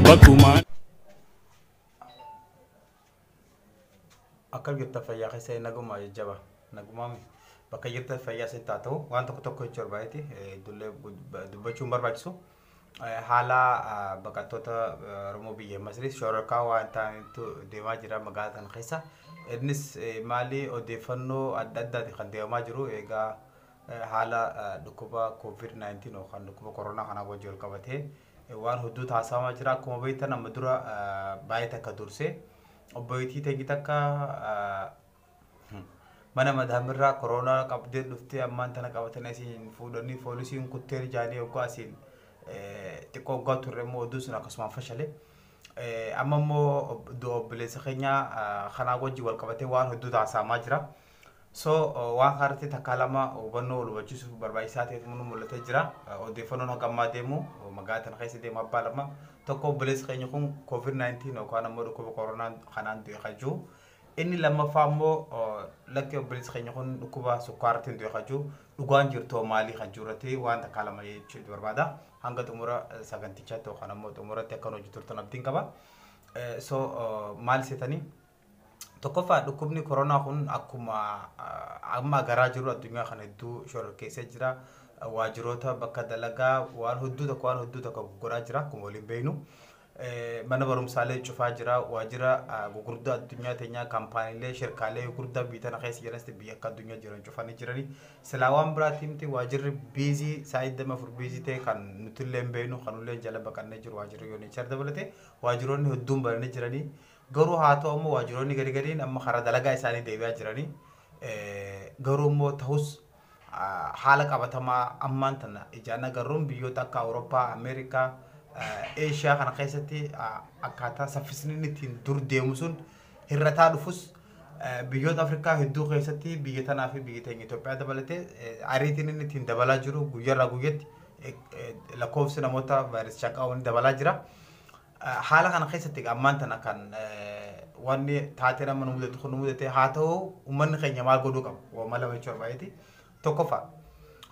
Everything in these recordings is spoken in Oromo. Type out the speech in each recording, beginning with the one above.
Bakkumaan. Akkam jirta fayyaa keessanii nagumaa jajjaba nagumaa mi bakka jirtan fayyaa isin haa ta'u waan tokko tokko jechuu barbaadeti iddollee dubbachuun barbaachisu Eh, haala ah, baqattoota eh, Oromoo biyya Masriis shororkaa waan ta'anitu deemaa jira magaalaa tana keessa innis eh, maali odeeffannoo adda addaati kan deemaa jiru egaa eh, haala ah, dhukkuba COVID-19 yookaan dhukkuba koronaa kanaa wajjin wal qabatee Waan hudduu taasifamaa jira. Akkuma beektan amma dura baay'ee takka dursee obboleettii teenyi takka mana madaamirraa koroonaa qabdee dhuftee ammaan tana qabatanii asiin fuudhanii poolisiin kuttee ijaanii oggaa asiin xiqqoo oggaa turre immoo odduu sun akkasumaan fashale. Amma immoo du'a obboleessa keenyaa kanaa wajjin wal qabatee waan hedduu taasifamaa jira. So waan kanarratti takkaa lama hubannoo wal hubachiisuuf barbaachisaa ta'etu nu mul'atee jira. Odeeffannoon hanga ammaa deemu magaalaa tana keessa deemu abbaa lama. Tokko obboleessi keenya kun COVID-19 yookaan ammoo dhukkuba koronaa kanaan du'e kan jiru. Inni lammaffaa ammoo lakki obboleessi keenya kun dhukkuba sukkaaraatiin du'e kan jiru. Dhugaan jirtoo maalii kan jiru irratti waan takkaa lama jechuu barbaada. Hanga xumura sagantichaatti yookaan ammoo xumuratti akka nu hojii turtan abdiin qaba. So maal seetanii? Tokkoffaa dhukkubni koronaa kun akkuma amma garaa jiru addunyaa kana hedduu shororkeessee jira. Waajiroota bakka dalagaa waan hedduu tokko waan hedduu tokko goggoraa jira akkuma waliin beeknu. Mana barumsaalee cufaa jira. Waajira gurguddaa addunyaa teenyaa kaampaaniilee shirkaalee gurguddaa biyya tana keessa jiranis biyya akka addunyaa jiran cufanii jirani. Silaa waan biraatiin miti waajirri biizii saa'ii dama afur biizii ta'e kan nuti illee hin beeknu kan illee jala baqannee jiru waajirri yoo neechar dabalatee waajiroonni hedduun bananii jiranii. Garuu haa ta'u immoo waajjiroonni gadi gadiin amma karaa dalagaa isaanii deebi'aa jiranii garuu immoo ta'us haala qabatamaa ammaan tana ijaan agarruun biyyoota akka Awurooppaa, Ameerikaa, Eeshiyaa kana keessatti akkaataa saffisni inni ittiin dur deemu sun hir'ataa dhufus biyyoota Afrikaa hedduu keessatti biyya tanaa fi biyya teenya Itoophiyaa dabalatee ariitiin inni ittiin dabalaa jiru guyyarraa guyyatti lakkoofsi namoota vaayirasichaan qabaman dabalaa jira. Haala kana keessatti egaa ammaan tana kan wanni taateen amma nu mudate kun nu mudate haa ta'u uummanni keenya maal godhuu qaba? Wama lama jechuun barbaadeti. Tokkoffaa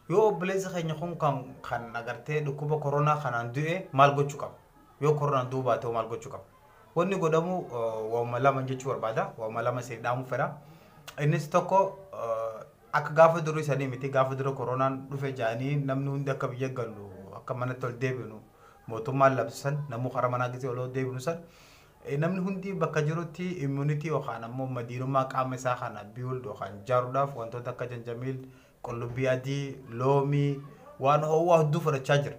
yoo obboleessi keenya kun kan kan agartee dhukkuba koronaa kanaan du'e maal gochuu qaba? Yoo koronaan du'uu baate hoo maal gochuu qaba? Wanni godhamu wama lama jechuu barbaada. Wama lama isin dhaamuu fedha. Innis tokko Akka gaafa durii sanii miti gaafa dura koronaan dhufe ja'anii namni hundi akka biyya gallu akka manatti ol deebinu mootummaan labse san namuu karaa manaa gisee ol deebinu san namni hundi bakka jirutti immunity yookaan ammoo madiinummaa qaama isaa kana build yookaan jaaruudhaaf wantoota akka janjamiil qullubbii adii loomii waan ho'aa hedduu fudhachaa jira.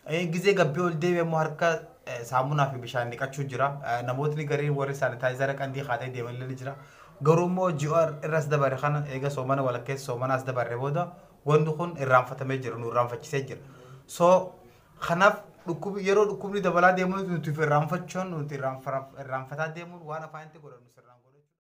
Eh, Gizee gabbee ol deebi'e immoo harka eh, saamunaa fi bishaan dhiqachuu jira. Eh, Namootni gariin warri saanitaayizara qandii kaatee deeman illee ni jira. Garuu immoo ji'a irras dabarre kana eega soomana walakkeessa soomanaas dabarre booda wanni kun irraanfatamee jira nu irraanfachisee jira. So kanaaf dhukkubi yeroo dhukkubni dabalaa deemuun nuti irraanfachuun nuti irraanfa- irraanfataa deemuun waan afaanitti godhannu sirraan godhachuu.